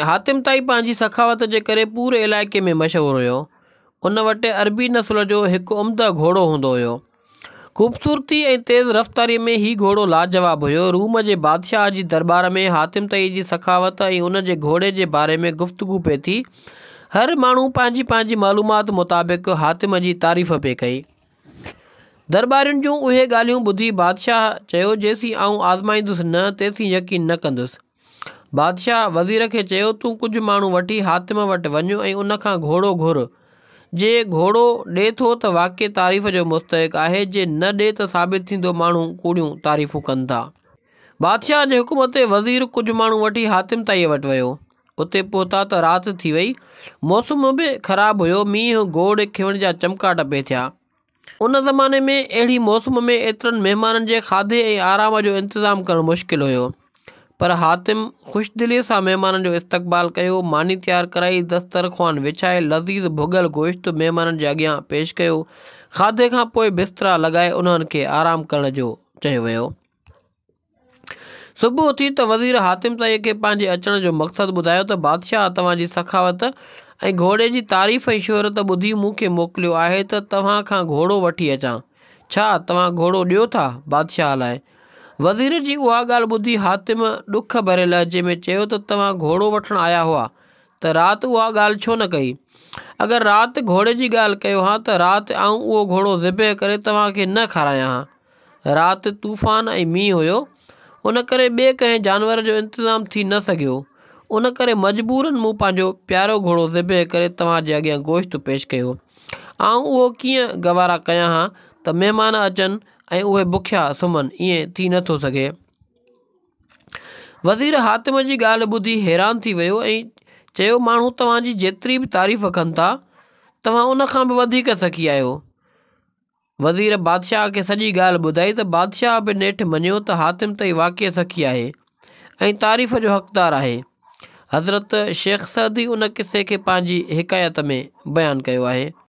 حاتم طائي پنهنجي سخاوت جي ڪري پوري علائقي ۾ مشهور هيو. ان وٽ عربي نسل جو هڪ عمده گهوڙو هوندو هيو. خوبصورتي ۽ تيز رفتاري ۾ هي گهوڙو لاجواب هيو. روم جي بادشاهه جي درٻار ۾ حاتم طائي جي سخاوت ۽ ان جي گهوڙي جي باري ۾ گفتگو پئي ٿي. هر ماڻهو پنهنجي پنهنجي معلومات مطابق حاتم جي تعريف پئي ڪئي. درٻارين جون اهي ڳالهيون ٻڌي بادشاهه چيو جيسين آئون آزمائيندس نه تيسين يقين نه ڪندس. بادشاهه وزير کي چيو، تون ڪجهه ماڻهو وٺي حاتم وٽ وڃ ۽ ان کان گهوڙو گهر. جي گهوڙو ڏي ٿو ته واقعي تعريف جو مستحق آهي، جي نه ڏي ته ثابت ٿيندو ماڻهو ڪوڙيون تعريفون ڪن ٿا. بادشاهه جي حڪم تي وزير ڪجهه ماڻهو وٺي حاتم طائيء وٽ ويو. اتي پهتا ته رات ٿي وئي. موسم به خراب هيو. مينهن گوڙ کيوڻ جا چمڪاٽ پئي ٿيا. ان زماني ۾ اهڙي موسم ۾ ايترن مهمانن جي کاڌي ۽ آرام جو انتظام ڪرڻ مشڪل هيو پر حاتم خوش دليء سان مهمانن جو استقبال ڪيو، ماني تيار ڪرائي، دستر خوان وڇائي، لذيذ ڀڳل گوشت مهمانن جي اڳيان پيش ڪيو. کاڌي کان پوء بسترا لڳائي انهن کي آرام ڪرڻ جو چيو ويو. صبح اٿي ته وزير حاتم طيء کي پنهنجي اچڻ جو مقصد ٻڌايو ته بادشاهه توهان جي سخاوت ۽ گهوڙي جي تعريف ۽ شهرت ٻڌي مون کي موڪليو آهي ته توهان کان گهوڙو وٺي اچان. ڇا توهان گهوڙو ڏيو ٿا بادشاهه لاء؟ وزير جي اها ڳالهه ٻڌي حاتم ڏک ڀري لهجي ۾ چيو ته توهان گهوڙو وٺڻ آيا هئا ته رات اها ڳالهه ڇو نه ڪئي؟ اگر رات گهوڙي جي ڳالهه ڪيو هان ته رات آئون اهو گهوڙو ذبح ڪري توهان کي نه کارايان هان. رات طوفان ۽ مينهن هيو ان ڪري ٻئي ڪنهن جانور جو انتظام ٿي نه سگهيو ان ڪري مجبورا مون پنهنجو پيارو گهوڙو ذبح ڪري توهان جي اڳيان گوشت پيش ڪيو آئون اهو ڪيئن گوارا ڪيان ها ته مهمان اچن ۽ اهي بکيا سمهن ائين ٿي نه ٿو سگهي. وزير حاتم جي ڳالهه ٻڌي حيران ٿي ويو ۽ چيو ماڻهو توهان جي جيتري به تعريف ڪن ٿا توهان ان کان به وڌيڪ سخي آهيو وزير بادشاهه کي سڄي ڳالهه ٻڌائي ته بادشاهه به نيٺ مڃيو ته حاتم ته هي واقعي سخي آهي ۽ تعريف جو حقدار آهي. حضرت شيخ سعدي ان قصي کي پنهنجي حڪايت ۾ بيان ڪيو آهي.